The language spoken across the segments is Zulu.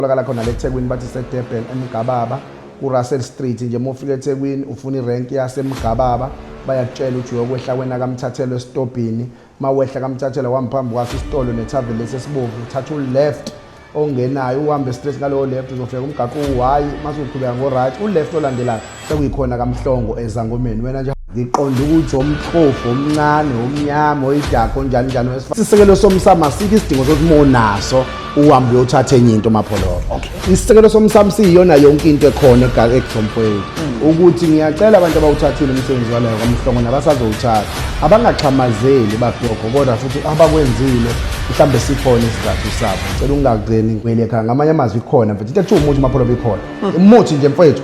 tholakala khona le Thekwini bathi seDurban eMgababa kuRussell Street nje mofika eThekwini ufuna irenki yaseMgababa bayakutshela ukuthi uyokwehla wena kamthathelo esitobhini mawehla kamthathelo wamphambi kwaso isitolo nethaveni lesi esibovu uthatha uleft ongenayo uhambe straight ngalowo left uzofika umgaqo uyi mase uqhubeka ngo right uleft olandelayo sekuyikhona kamhlongo ezangomeni wena nje ngiqonda ukuthi omhlofu omncane omnyama oyidakho njani njani wesifazane isisekelo somsamo asikho isidingo sokuthi monaso uhambe uyothatha enye into mapholo isisekelo somsamo siyiyona yonke into ekhona ekuzomfowethu hmm. ukuthi ngiyacela abantu abawuthathile umsebenzi walayo kwamhlongo nabasazowuthatha abangaxhamazeli babhoko kodwa futhi abakwenzile mhlawumbe sikhona isizathu sabo cela ungagcini kwelekha ngamanye amazwi ikhona mfethu into ekuthiwa umuthi mapholo bikhona hmm. umuthi nje mfowethu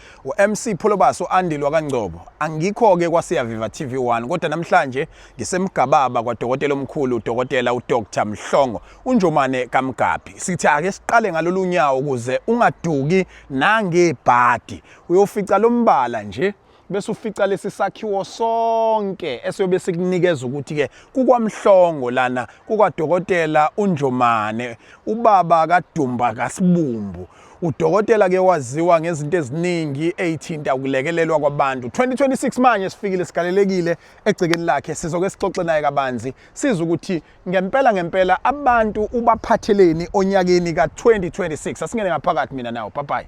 UMC Pholobasi u-Andile wakaNgcobo. Angikho-ke kwaSiyaviva TV1 kodwa namhlanje ngisemgababa kwadokotela omkhulu udokotela uDr Mhlongo uNjomane kaMgabhi. Sithi ake siqale ngalolu nyawo ukuze ungaduki nangebhadi. Uyofica lo mbala nje bese ufica lesi sakhiwo sonke esiyobe sikunikeza ukuthi-ke kukwamhlongo lana kukwadokotela unjomane ubaba kadumba kasibumbu Udokotela ke waziwa ngezinto eziningi eyithinta ukulekelelwa kwabantu. 2026 manje sifikile sigalelekile egcekeni lakhe sizoke sixoxe naye kabanzi siza ukuthi ngempela ngempela abantu ubaphatheleni onyakeni ka-2026. Asingene ngaphakathi mina nawo. Bye bye.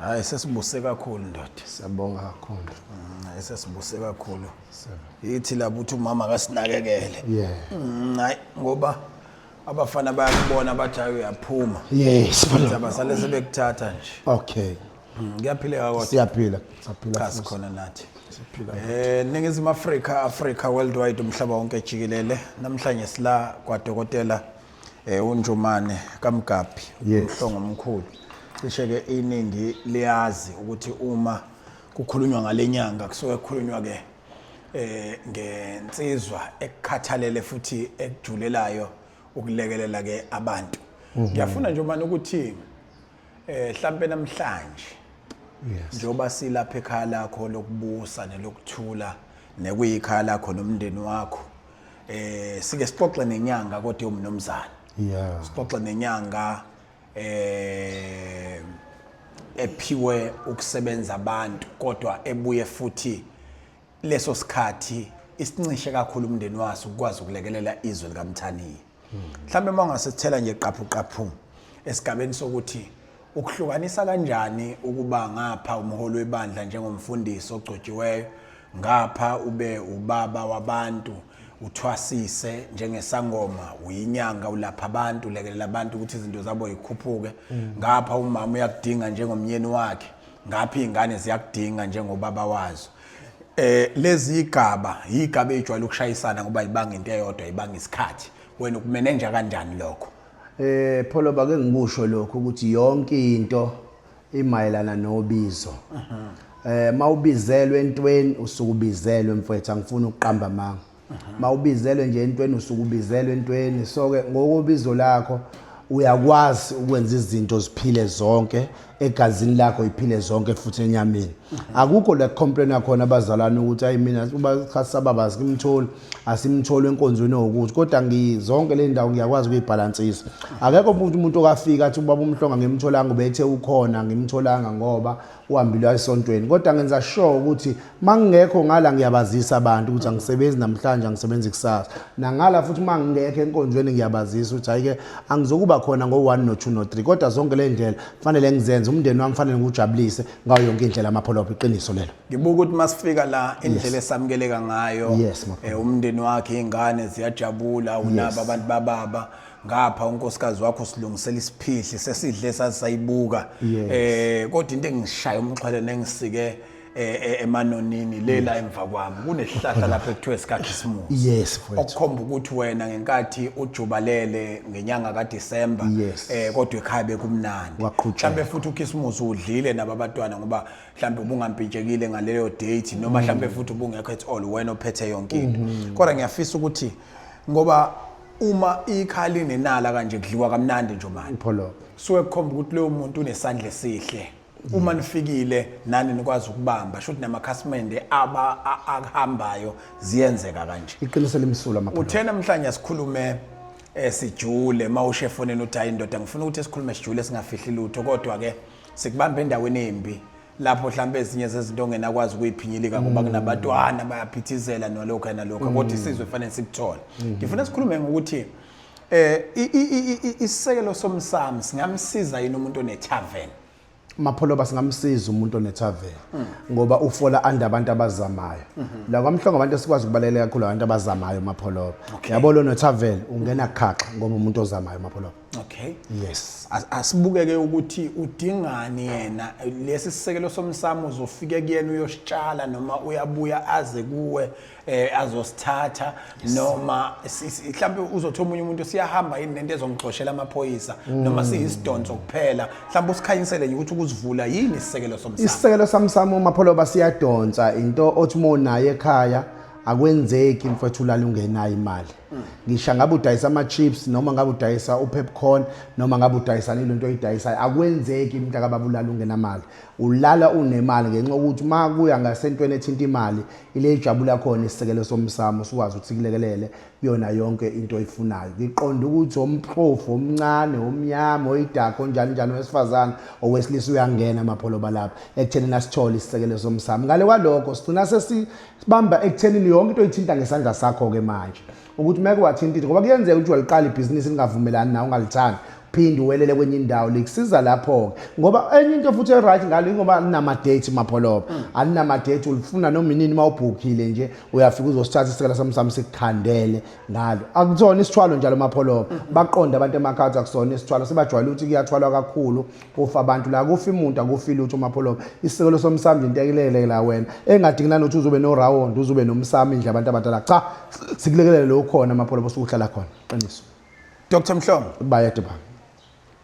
Hayi sesibuse kakhulu ndoda. Siyabonga kakhulu. Mm, hayi sesibuse kakhulu. Yithi lapho uthi umama akasinakekele. Yeah. Mm, hayi ngoba abafana bayakubona bathi hayi uyaphuma. Yes. Abasale sebekuthatha nje. Okay. Mm, kuyaphileka kodwa. Siyaphila. Siyaphila. Cha sikhona nathi. Eh ningizimu Afrika Afrika worldwide umhlaba wonke jikelele namhlanje sila kwadokotela Eh uNjomane kaMgabhi Yes. umhlongo omkhulu. Cishe ke iningi liyazi ukuthi uma kukhulunywa ngalenyanga kusuke kukhulunywa ke eh ngensizwa ekukhathalele futhi ekujulelayo ukulekelela ke abantu. Mhm. Ngiyafuna nje manje ukuthi eh mhlambe namhlanje Yes. njengoba silapha ekhaya lakho lokubusa nelokuthula nekuyikhaya lakho nomndeni wakho eh sike sixoxe nenyanga kodwa umnomzana yeah sixoxe nenyanga eh ephiwe ukusebenza abantu kodwa ebuye futhi leso sikhathi isincishe kakhulu umndeni waso ukwazi ukulekelela izwe likamthaniya mhlawumbe uma ungasithela nje qaphuqaphu esigabeni sokuthi ukuhlukanisa kanjani ukuba ngapha umholi webandla njengomfundisi ogcotshiweyo ngapha ube ubaba wabantu uthwasise njengesangoma uyinyanga ulapha abantu ulekelela abantu ukuthi izinto zabo yikhuphuke mm. ngapha umama uyakudinga njengomnyeni wakhe ngapha iy'ngane ziyakudinga njengobaba wazo Eh lezi igaba igaba ejwayele ukushayisana ngoba ibanga into eyodwa ibanga isikhathi wena ukumenenja kanjani lokho eh pholo bake ngikusho lokho ukuthi yonke into imayelana nobizo eh mawubizelwe entweni usukubizelwe mfwethu angifuni ukuqamba manga mawubizelwe nje entweni usuke ubizelwe entweni so ke ngokobizo lakho uyakwazi ukwenza izinto ziphile zonke egazini lakho iphile zonke futhi enyameni akukho la complain khona abazalwane ukuthi ayi mina uba sababa asimtholi asimtholi enkonzweni okuthi kodwa ngizonke le ndawo ngiyakwazi ukuyibhalansisa akekho umuntu umuntu okafika athi ubaba umhlonga ngimtholanga ubethe ukhona ngimtholanga ngoba uhambile wayesontweni kodwa ngenza sure ukuthi mangingekho ngala ngiyabazisa abantu ukuthi angisebenzi namhlanje angisebenzi ikusasa nangala futhi mangingekho enkonzweni ngiyabazisa ukuthi hayike angizokuba khona ngo1 no 2 no 3 kodwa zonke le ndlela fanele ngizenze umndeni wami fanele ngujabulise ngayo yonke indlela amapholopo iqiniso lelo ngibuka ukuthi masifika la indlela esamukeleka ngayo eh, umndeni wakhe ingane ziyajabula unabo abantu bababa ngapha unkosikazi wakho silungisela isiphihli sesidle sazisayibuka Yes. eh kodwa into engishaya umxhwele nengisike eh, eh, emanonini lela emva kwami kunesihlahla lapha ekuthiwa sikakhisimusi yes mfowethu okukhomba ukuthi wena ngenkathi ujubalele ngenyanga kaDisemba Yes. eh kodwa ekhaya bekumnandi Waqhutsheka. mhlambe futhi ukhisimusi udlile nabo abatwana ngoba mhlambe ubungampintshekile ngaleyo date noma mhlambe futhi ubungekho at all wena ophethe yonke into kodwa ngiyafisa ukuthi ngoba uma ikha linenala kanje kudliwa kamnandi nje manje ipholobo suke kukhomba ukuthi leyo muntu unesandla esihle uma nifikile nani nikwazi ukubamba shuthi namakhasimende aba a- akuhambayo ziyenzeka kanje iqiniso limsulwa amapholobo uthe namhlanje sikhulume eh, sijule uma ushe efonini uthi hayi ndoda ngifuna ukuthi sikhulume sijule singafihli lutho kodwa-ke sikubambe endaweni embi lapho mhlawumbe ezinye zezinto ongenakwazi ukuyiphinyilika ngoba mm. kunabatwana bayaphithizela nalokho nalokho mm. kodwa isizwe fanele sikuthole mm. ngifuna sikhulume ngokuthi eh isisekelo somsamo singamsiza yini umuntu onetavern mapholoba singamsiza umuntu onetavern ngoba ufola anda abantu abazamayo mm-hmm. la kwamhlongo abantu esikwazi ukubalekela kakhulu abantu abazamayo mapholoba yabo lo netavern ungena khaxa ngoba umuntu ozamayo mapholoba Okay. Yes. As- Asibukeke ukuthi udingani yena lesi sisekelo somsamo uzofike kuyena uyositshala noma uyabuya aze kuwe eh azosithatha noma si- si- mhlambe uzothi omunye umuntu siyahamba yini nento ezongixoshela amaphoyisa Mm. noma siyisidonso kuphela mhlambe usikhanyisele nje ukuthi ukuzivula yini isisekelo somsamo isisekelo samsamo umapholoba siyadonsa into othi uma unayo ekhaya akwenzeki mfethu ulala ungenayo imali ngisha ngabe udayisa ama-chips noma ngabe udayisa upepcorn noma ngabe udayisa nile nto oyidayisayo akwenzeki umuntu akababulala ungenamali ulala unemali ngenxa yokuthi uma kuya ngasentweni ethinta imali ile ijabu lakhona isisekelo somsamo sikwazi ukuthi kulekelele kuyona yonke into oyifunayo ngiqonda ukuthi omprofu omncane omnyama oyidakho onjani njani owesifazane owesilisa uyangena amapholoba lapha ekuthenini asithole isisekelo somsamo ngale kwalokho sigcina sesi sibamba ekuthenini yonke into oyithinta ngesandla sakho-ke manje ukuthi uma ke wathinta into ngoba kuyenzeka ukuthi waliqala ibhizinisi lingavumelani nawe ungalithandi phinde uwelele kwenye indawo likusiza lapho-ke ngoba enye into futhi e-right ngalo ingoba alinama-date mapholoba mm. alinama-date ulifuna noma inini uma ubhukhile nje uyafika uzosithatha isikhala sami sami sikukhandele ngalo akusona isithwalo njalo mapholoba mm. baqonde abantu emakhawuthi akusona isithwalo sebajwayele ukuthi kuyathwalwa kakhulu kufa abantu la kufi muntu akufi lutho umapholoba isisekelo somsamo nje ntekelele la wena engadingi nani uthi uzobe no round uzobe nomsamo indle abantu abadala cha sikulekelele lo khona amapholoba sokuhlala khona qiniso Dr Mhlongo bayede ba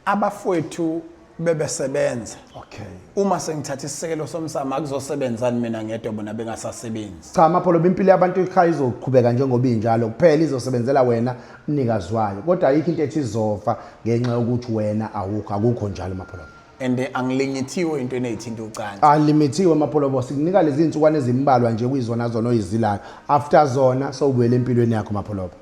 abafowethu bebesebenza okay uma sengithatha isisekelo somsamo akuzosebenzani mina ngedwa bona bengasasebenzi cha amapholoba impilo yabantu ikhaya izoqhubeka njengoba injalo kuphela izosebenzela wena Mnikazi wayo kodwa ayikho into ethi izofa ngenxa yokuthi wena awukho akukho njalo mapholobo. And angilingethiwe into eneyithinta ucansi. Alimithiwe mapholobo sikunika lezi insukwane ezimbalwa nje kuyizona zona oyizilayo. After zona sowubuyela empilweni yakho mapholobo.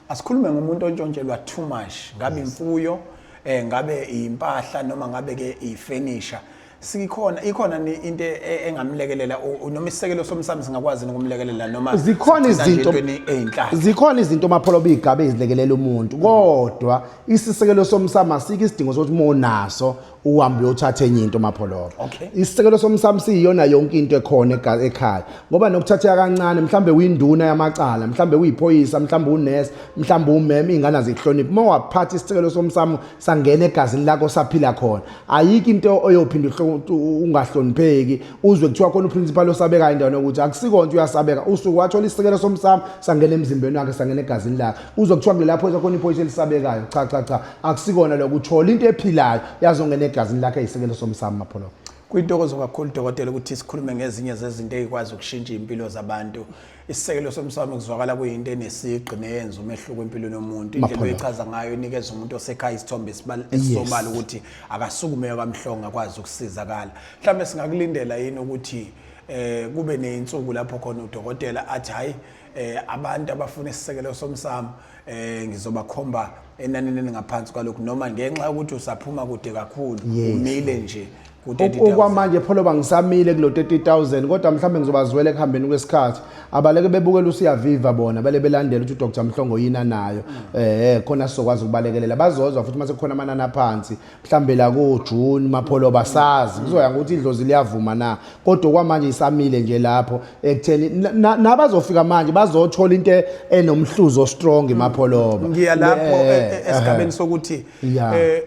Asikhulume ngomuntu ontshontshelwa too much ngabe imfuyo eh ngabe impahla noma ngabe ke ifurniture sikhona ikhona ni- into e- e- engamlekelela u- u- noma isisekelo somsamo singakwazi nokumlekelela noma zikhona sigcina nje izinto entweni eyinhlaka zikhona izinto mapholo bigabe izilekelela umuntu kodwa isisekelo somsamo asikho isidingo sokuthi uma unaso uhambe uyothatha enye into mapholo Okay. isisekelo somsamo siyiyona yonke into ekhona ega- ekhaya ngoba nokuthatheka kancane mhlawumbe uyinduna yamacala mhlawumbe uyiphoyisa mhlawumbe unesi mhlawumbe umeme iy'ngane azikuhloniphi uma waphatha isisekelo somsamo sangena egazini lakho saphila khona ayikho into oyophinda ungahlonipheki uzwe kuthiwa khona uprincipal osabekayo endaweni yokuthi akusikho nto uyasabeka usuke wathola isisekelo somsamo sangena emzimbeni wakhe sangena egazini lakhe uzwe kuthiwa kulela phoyisa khona iphoyisa elisabekayo cha cha cha akusikona lokho uthola into ephilayo yazongena egazini lakhe eyisekelo somsamo mapholobo kuyintokozo kakhulu dokotela ukuthi sikhulume ngezinye zezinto eyikwazi ukushintsha impilo zabantu isisekelo somsamo kuzwakala kuyinto enesigqi neyenza umehluko empilweni yomuntu indlela oyichaza ngayo inikeza umuntu osekhaya isithombe esisobala ukuthi akasukume kamhlongo akwazi ukusizakala mhlawumbe singakulindela yini ukuthi eh kube nezinsuku lapho khona udokotela athi hayi eh abantu abafuna isisekelo somsamo eh ngizobakhomba enanini elingaphansi kwalokhu noma ngenxa yokuthi usaphuma kude kakhulu Yes. umile nje O- ku-30,000 okwamanje pholoba ngisamile kulo 30000 kodwa mhlawumbe ngizobazwela ekuhambeni kwesikhathi abaleke bebukela usiyaviva bona bale belandela ukuthi udr mhlongo yini anayo eh khona sizokwazi ukubalekelela bazozwa futhi uma sekukhona amanani aphansi mhlambe la ko June mapholo basazi kuzoya ukuthi idlozi liyavuma na kodwa kwamanje isamile nje lapho ekutheni nabazofika manje bazothola into e-, enomhluzo strong imapholoba ngiya lapho eh, eh, eh, esigabeni sokuthi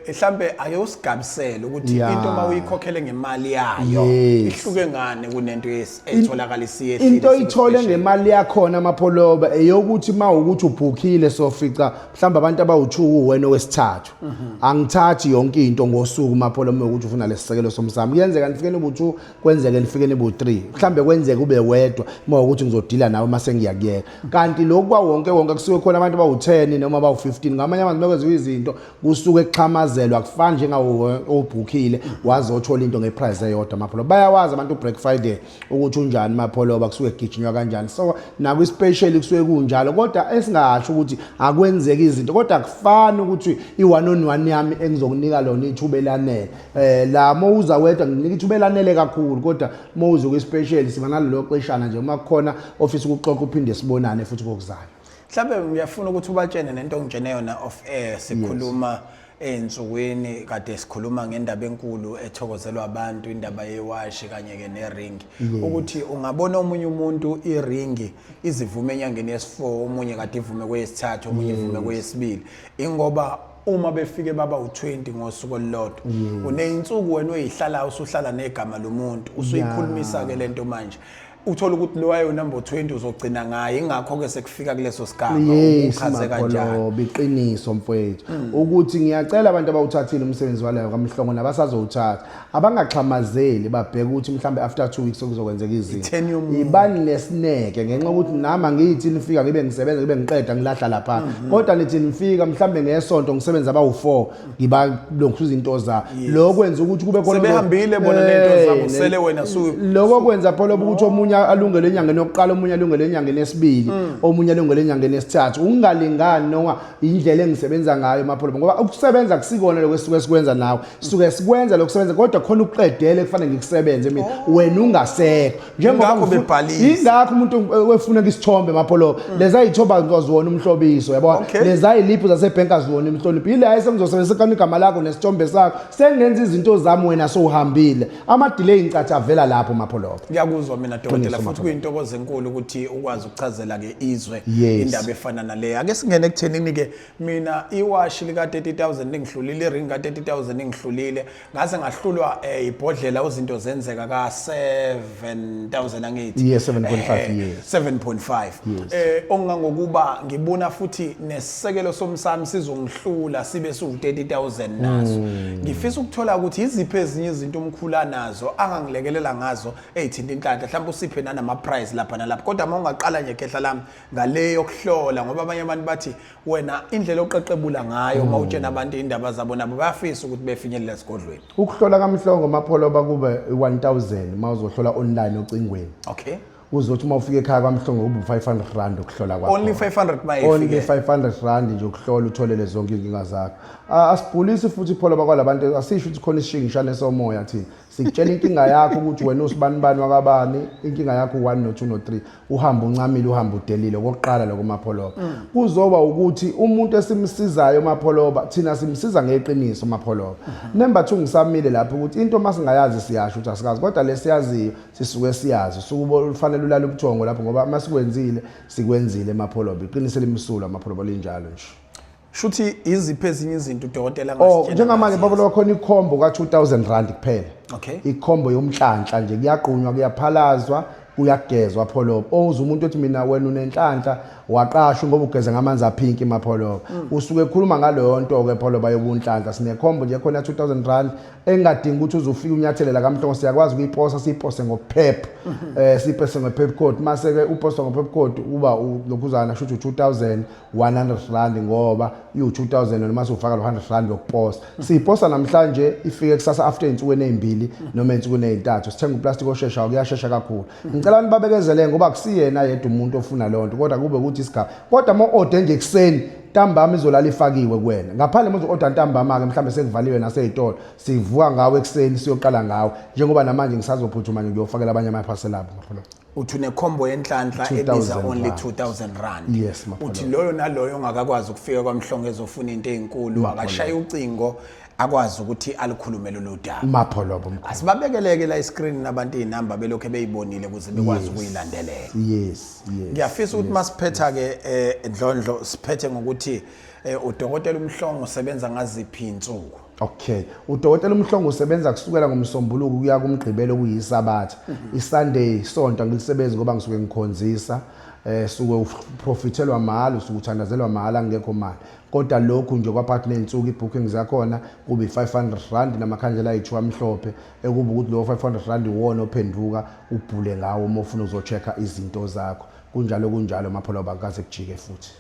mhlambe ayosigabisela ukuthi into mawuyikhokhele ngemali yayo ihluke ngane kunento etholakala isiyehlile into ithole ngemali yakhona amapholoba eyokuthi mawukuthi ubhukile sofica mhlambe abantu abawuthuku wena wesithathu angithathi yonke into ngosuku mapholo uma ukuthi ufuna lesisekelo somsamo kuyenzeka nifikeni bu-2 kwenzeke nifikeni bu-3 mhlambe kwenzeka ube wedwa uma ukuthi ngizodila nawe uma sengiyakuyeka kanti lokhu kwawonke wonke kusuke khona abantu bawu-10 noma bawu-15 ngamanye amazwi uma kwenziwa izinto kusuke kuxhamazelwa kufana njengawo obhukhile waze othola into ngeprice eyodwa mapholo bayawazi abantu u-break friday ukuthi unjani mapholoba kusuke kugijinywa kanjani so naku special kusuke kunjalo kodwa esingasho ukuthi akwenzeki izinto kodwa kufana ukuthi i1 on 1 yami engizokunika lona ithuba elanele eh la mowuza wedwa nginika ithuba elanele kakhulu kodwa mowuza ku special siba nalelo xeshana nje uma kukhona ofisa ukuxoxa uphinde sibonane futhi kokuzayo mhlawumbe ngiyafuna ukuthi ubatshene nento ongitshene yona of air sikhuluma yes. Ey'nsukwini kade sikhuluma ngendaba enkulu ethokozelwa abantu indaba yewashi kanye-ke neringi ukuthi ungabona omunye umuntu iringi izivume enyangeni yesi-four omunye kade ivume kweyesithathu omunye ivume kweyesibili ingoba uma befike baba u-20 ngosuku olulodwa uney'nsuku wena oyihlalayo usuhlala negama lomuntu usuyikhulumisa-ke le nto manje uthole ukuthi lo wayo number 20 uzogcina ngaye ingakho ke sekufika kuleso sigaba Yes, uchaze kanjani Magolobi, iqiniso mfowethu hmm. ukuthi ngiyacela abantu abawuthathile umsebenzi walayo kamhlongo nabasazowuthatha abangaxhamazeli babheke ukuthi mhlawumbe after 2 weeks okuzokwenzeka Itheni izinto yomuntu. ibani nesineke ngenxa yokuthi nami angiyithi nifika ngibe ngisebenza ngibe ngiqeda ngilahla lapha hmm, hmm. kodwa nithi nifika mhlawumbe ngesonto ngisebenza abawu-4 ngibalonkhuza into zabo lokho kwenza ukuthi kube khona sebehambile bona nento eh, zabo sele wena su lokho kwenza phela ukuthi omunye alungele enyangeni yokuqala omunye alungele enyangeni yesibili mm. omunye alungele enyangeni yesithathu ungalingani noma indlela engisebenza ngayo mapholo ngoba ukusebenza kusikona lokho esuke sikwenza nawe suke sikwenza lokusebenza kodwa khona ukuqedele kufanele ngikusebenze mina oh. wena ungasekho Ingakho bebhalisa. Ingakho umuntu wefuna isithombe mapholo. Mm. Leza ithoba ngizozona umhlobiso yabo. Leza iliphu zase bank azona imhlonipho. Yile hayi sengizosebenzisa kani igama lakho nesithombe sakho. Sengenza izinto zami wena sowuhambile. Ama delay incathi avela lapho mapholo. Ngiyakuzwa mina dokotela futhi kuyintokozo enkulu ukuthi ukwazi ukuchazela ke izwe indaba efana nale. Ake singene ekuthenini ke mina iwashi lika 30000 lingihlulile, iring ka 30000 ingihlulile. ngaze ngahlulwa eh, ibhodlela uzinto zenzeka ka 7000 angithi yes 7.5 yes 7.5 eh ongangokuba ngibona futhi nesekelo somsami sizongihlula sibe su 30000 naso hmm. ngifisa ukuthola ukuthi iziphi ezinye izinto umkhula nazo angangilekelela ngazo ezithinta inhlanhla mhlawumbe usiphe nanama prize lapha nalapha kodwa uma ungaqala nje khehla lami ngale yokuhlola ngoba abanye abantu bathi wena indlela oqeqebula ngayo uma utshena abantu indaba zabo nabo bayafisa ukuthi befinyelela esigodlweni ukuhlola kamhlongo mapholoba kube 1000 uma uzohlola online ocingweni okay uzothi uma ufika ekhaya kwamhlongo kube 500 rand ukuhlola kwakho only 500 bayifike only 500 rand nje ukuhlola utholele zonke inkinga zakho asibhulisi futhi pholoba kwalabantu asisho ukuthi khona isishingishane somoya thina Sikutshela inkinga yakho ukuthi wena usibanibani wakabani, inkinga yakho u-1 no-2 no-3. Uhamba uncamile, uhamba udelile okokuqala lokho uMapholoba. Mm. Kuzoba ukuthi umuntu esimsizayo uMapholoba, thina simsiza ngeqiniso uMapholoba. Mm-hmm. Number 2 ngisamile lapho ukuthi into uma singayazi siyasho ukuthi asikazi kodwa lesiyaziyo sisuke siyazi. Sukubo ufanele ulala ubuthongo lapho ngoba uma sikwenzile sikwenzile eMapholoba. Iqiniso elimsulwa uMapholoba linjalo nje. shuthi iziphi ezinye izinto udokotela oh, angasitshela njengamanje baba lo khona ikhombo ka 2000 rand kuphela okay ikhombo yomhlanhla nje kuyagqunywa kuyaphalazwa kuyagezwa pholobo owuza umuntu othi mina wena unenhlanhla waqashwa ngoba ugeza ngamanzi aphinki mapholobo mm. usuke ekhuluma ngaleyo nto ke pholoba yobunhlanhla sinekhombo nje khona 2000 rand engadingi ukuthi uzofika unyathelela kamhlongo siyakwazi ukuyiposa siyipose ngokuphepha mm-hmm. eh siyipose ngophepcode mase ke uposa ngophepcode uba lokhuzana shuthi 2000 100 rand ngoba iwu 2000 wena mase ufaka lo 100 rand yokuposa siyiposa namhlanje ifike kusasa after insukwini ezimbili noma insukwini ezintathu sithenga uplastic oshesha kuyashesha kakhulu ngicela nibabekezele ngoba kusiyena yedwa umuntu ofuna leyo nto kodwa kube ukuthi isigaba kodwa mo order nje kuseni ntambama izolala ifakiwe kuwena ngaphandle manje order ntambama ke mhlambe sekuvaliwe nasezitolo sivuka ngawe ekseni siyoqala ngawe njengoba namanje ngisazophuthuma nje ngiyofakela abanye ama parcel abo ngaphandle uthi unekhombo yenhlanhla ebiza only 2000 rand yes, uthi loyo naloyo ongakakwazi ukufika kwamhlongo ezofuna into ezinkulu akashaye ucingo akwazi ukuthi alikhulume lolu daba mapho lobo mkhulu asibabekeleke la iscreen nabantu izinamba belokho beyibonile ukuze bekwazi ukuyilandelela yes yes ngiyafisa ukuthi masiphetha ke eh, ndlondlo siphethe ngokuthi eh, udokotela umhlongo usebenza ngaziphi insuku Okay. Udokotela uMhlongo usebenza kusukela ngomsombuluko kuya kumgqibelo kuyisabatha. Mhm. ISunday sonto angilisebenzi ngoba ngisuke ngikhonzisa eh suke uprofithelwa mahhala usuke uthandazelwa mahhala ngekho mali kodwa lokhu nje kwaphakathi nensuku ibooking zakhona kube 500 rand namakhandlela ayithu amhlophe ekuba ukuthi lo 500 rand iwona ophenduka ubhule ngawo uma ufuna uzochecka izinto zakho kunjalo kunjalo mapholo bakaze kujike futhi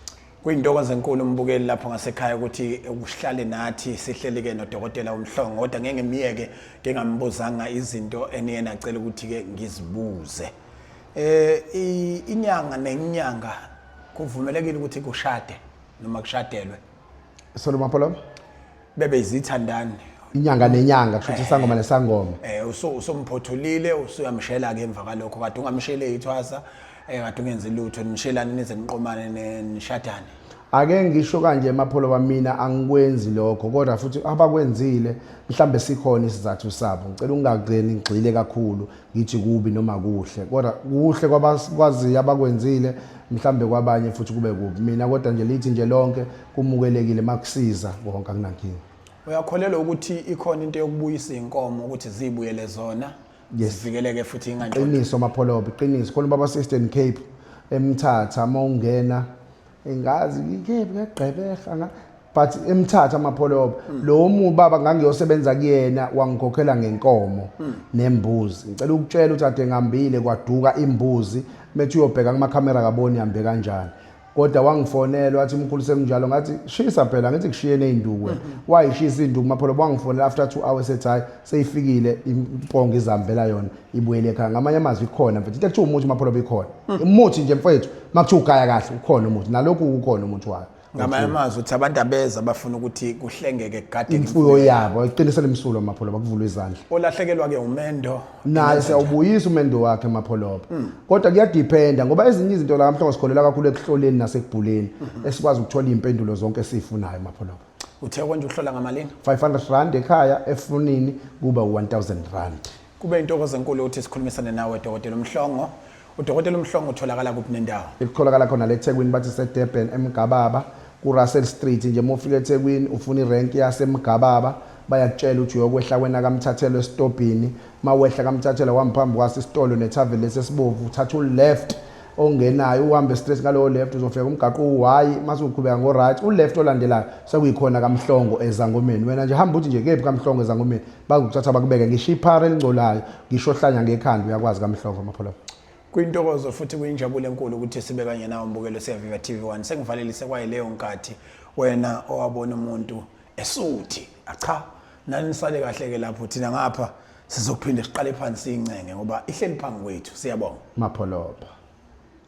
Kuyintokozo enkulu umbukeli lapho ngasekhaya ukuthi ukuhlale nathi sihlelike nodokotela uMhlongo kodwa ngeke ngimyeke ngingambuzanga izinto eniyena acela ukuthi ke ngizibuze. Eh inyanga nenyanga kuvumelekile ukuthi kushade noma kushadelwe. Solomapolo. bebe izitha ndani inyanga nenyanga kusho ukuthi eh, isangoma nesangoma eh usomphothulile usuyamshela ke emva kalokho kade ungamshele ithwasa eh kade ungenzi lutho nishelane nize niqomane nishadane ake ngisho kanje emapholo bamina angikwenzi lokho kodwa futhi abakwenzile mhlambe sikhona isizathu sabo ngicela ungagcini ngigxile kakhulu ngithi kubi noma kuhle kodwa kuhle kwabakwaziyo abakwenzile mhlambe kwabanye futhi kube kubi mina kodwa nje lithi nje lonke kumukelekile makusiza konke akunankinga uyakholelwa ukuthi ikhona into yokubuyisa inkomo ukuthi zibuyele zona zivikeleke futhi ingantshontsho qiniso mapholobe qiniso khona baba Eastern Cape emthatha uma ungena engazi ngikephi ngegqebeha nga but emthatha amapholobe mm. lo muntu baba ngangiyosebenza kuyena wangikhokhela ngenkomo mm. nembuzi ngicela ukutshela ukuthi ade ngambile kwaduka imbuzi methi uyobheka kuma camera kaboni ihambe kanjani kodwa wangifonela wathi umkhulu sekunjalo ngathi shisa phela ngithi kushiyene izinduku wena mm-hmm. wayishisa izinduku mapholo wangifonela after 2 hours ethi hayi seyifikile impongo izambela yona ibuyele ekhaya ngamanye amazwi ikhona mfethu into ekuthiwa umuthi mapholo bikhona mm. umuthi nje mfethu makuthiwa ugaya kahle ukhona umuthi nalokhu ukhona umuthi wayo ngamanye amazwi uthi abantu abeza bafuna ukuthi kuhlengeke kugadeni imfuyo yabo iqiniso lemsulo mapholo bakuvula izandla olahlekelwa ke umendo naye siyawubuyisa umendo wakhe emapholoba hmm. kodwa kuyadiphenda ngoba ezinye izinto la mhlawumbe sikholela kakhulu ekuhloleni nasekubhuleni hmm. esikwazi ukuthola iy'mpendulo zonke esiyifunayo emapholoba uthe konje uhlola ngamalini 500 rand ekhaya efunini kuba 1000 rand kube intokozo enkulu ukuthi sikhulumisane nawe dokotela umhlongo Udokotela uMhlongo utholakala kuphi nendawo? Ikutholakala khona le Thekwini bathi seDurban eMgababa kuRussell Street nje uma ufika eThekwini ufuna irenki yaseMgababa bayakutshela ukuthi uyokwehla kwena kaMthathelwa esitobhini mawehla kaMthathelwa wamphambi kwaso isitolo nethaveni lesi esibovu uthatha uleft ongenayo uhambe straight ngalowo left uzofika umgaqo uwayi mase uqhubeka ngo right uleft olandelayo sekuyikhona kaMhlongo ezangomeni wena nje hamba uthi nje kephi kaMhlongo ezangomeni Bakuthatha bakubeke ngisho iphara elingcolayo, ngisho ohlanya ngekhanda uyakwazi kamhlongo amapholo. Kwintokozo futhi kuyinjabulo enkulu ukuthi sibe kanye nawe mbukelo siyaviva TV1. Sengivalelise kwaye leyo nkathi wena owabona umuntu esuthi. Acha, nani sale kahle ke lapho thina ngapha sizophinde siqale phansi incenge ngoba ihleli phambi kwethu. Siyabonga. Mapholoba.